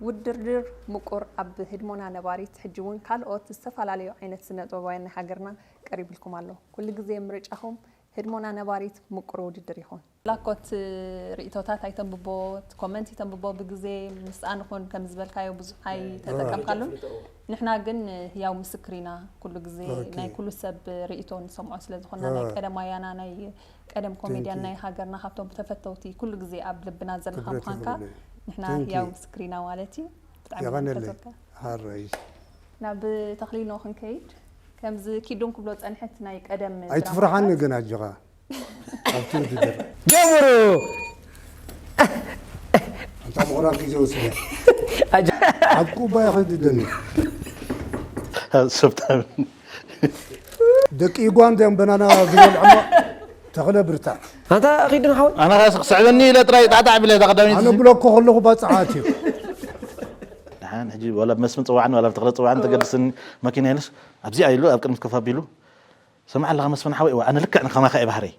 ውድርድር ምቁር ኣብ ህድሞና ነባሪት ሕጂ ውን ካልኦት ዝተፋላለዩ ዓይነት ስነጥበባውያን ናይ ሃገርና ቀሪብልኩም ኣሎ ኩሉ ግዜ ምርጫኹም ህድሞና ነባሪት ምቁር ውድድር ይኹን። ላኮት ሪኢቶታት ኣይተንብቦ ኮመንት ይተንብቦ ብግዜ ምስኣ ንኹን ከም ዝበልካዮ ብዙሕ ኣይተጠቀምካሉን ንሕና ግን ህያው ምስክር ኢና ኩሉ ግዜ ናይ ኩሉ ሰብ ሪኢቶ ንሰምዖ ስለ ዝኾና ናይ ቀደም ኣያና ናይ ቀደም ኮሜድያን ናይ ሃገርና ካብቶም ብተፈተውቲ ኩሉ ግዜ ኣብ ልብና ዘለኻ ምዃንካ ንሕና ህያው ምስክር ኢና ማለት እዩ ብጣዕሚ ንፈትወካ ናብ ተኽሊኖ ክንከይድ ከምዚ ኪዱን ክብሎ ዝጸንሐት ናይ ቀደም ኣይትፍርሓኒ ግን ኣጆኻ ኣብቲ ውድድር ጀምሩ ኣንታ ምቑራብ ግዜ ወስደ ኣብ ኩባያ ክንድደኒ ሰብታ ደቂ ዩጋንዳ እዮም በናና ዝበልዕሞ ተኽለ ብርታዕ ኣንታ ኺድን ሓወይ ኣነ ኸስ ክስዕበኒ ኢለ ጥራይ ጣዕጣዕ ኣቢለ እታ ቀዳመይቲ ኣነ ብሎኮ ከለኹ ባፅዓት እዩ ድሓን ሕጂ ዋላ ብመስፍን ጽዋዕኒ ዋላ ብተኽለ ጽዋዕኒ ተገድስኒ መኪና የለሽ ኣብዚኣ ኢሉ ኣብ ቅድሚት ኮፍ ኣቢሉ ሰማዕ ኣለኻ መስፍን ሓወይ እወ ኣነ ልክዕ ንከማኻ እየ ባህረይ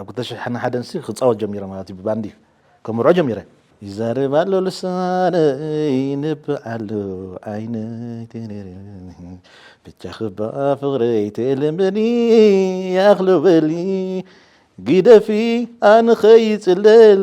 ኣብ ክልተ ሽሕን ሓደን ሲ ክጻወት ጀሚረ ማለት እዩ ብባንዲ ከምርዖ ጀሚረ ይዛረብ ኣሎ ልሳነይ ንብዕ ኣሎ ዓይነይ ብቻ ክባ ፍቕረይ ተልምኒ ያኽሎ በሊ ግደፊ ኣንኸይጽለል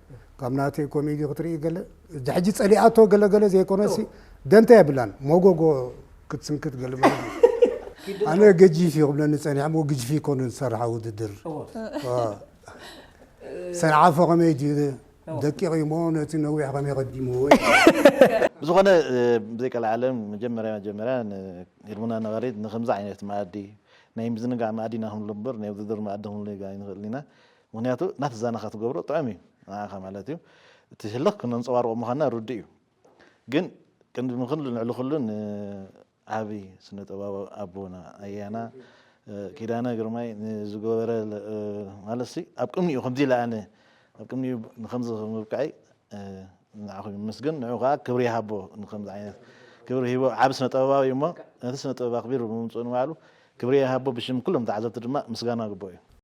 ካብ ናተይ ኮሜዲ ክትርኢ ገለ እዚ ሕጂ ጸሊኣቶ ገለ ገለ ዘይኮነሲ ደንታ የብላን ሞጎጎ ክትስንክት ገለ ማለት እዩ። ኣነ ገጂፍ እዩ ክብለኒ ጸኒሐ እሞ ግጅፊ ኮነ ዝሰርሓ ውድድር ሰንዓፈ ከመይ ድዩ ደቂቕ እዩ እሞ ነቲ ነዊሕ ከመይ ቀዲምዎ ብዝኾነ ብዘይቀልዓለም መጀመርያ መጀመርያ ንኤርሙና ነባሪት ንከምዚ ዓይነት መኣዲ ናይ ምዝንጋዕ መኣዲ ኢና ክንብሎ እምበር ናይ ውድድር መኣዲ ክንብሎ ኣይንኽእልን ኢና ምኽንያቱ ናብቲ ዛናኻ ትገብሮ ጥዑም እዩ ንዓኻ ማለት እዩ እቲ ህልኽ ክነንጸባርቆ ምዃንና ርዱእ እዩ ግን ቅድሚ ኩሉ ልዕሊ ኩሉ ንዓቢ ስነ ጥበባዊ ኣቦና ኣያና ኪዳነ ግርማይ ንዝገበረ ማለትሲ ኣብ ቅድሚኡ ከምዚ ኢለ ኣነ ኣብ ቅድሚኡ ንከምዚ ምብቃዕይ ንዓኹም ይመስገን ንዑ ከዓ ክብሪ ይሃቦ ንከምዚ ዓይነት ክብሪ ሂቦ ዓብ ስነ ጥበባዊ እሞ ነቲ ስነ ጥበብ ኣኽቢሩ ብምምፅኡ ንባዕሉ ክብሪ ይሃቦ ብሽም ኩሎም ተዓዘብቲ ድማ ምስጋና ግቦ እዩ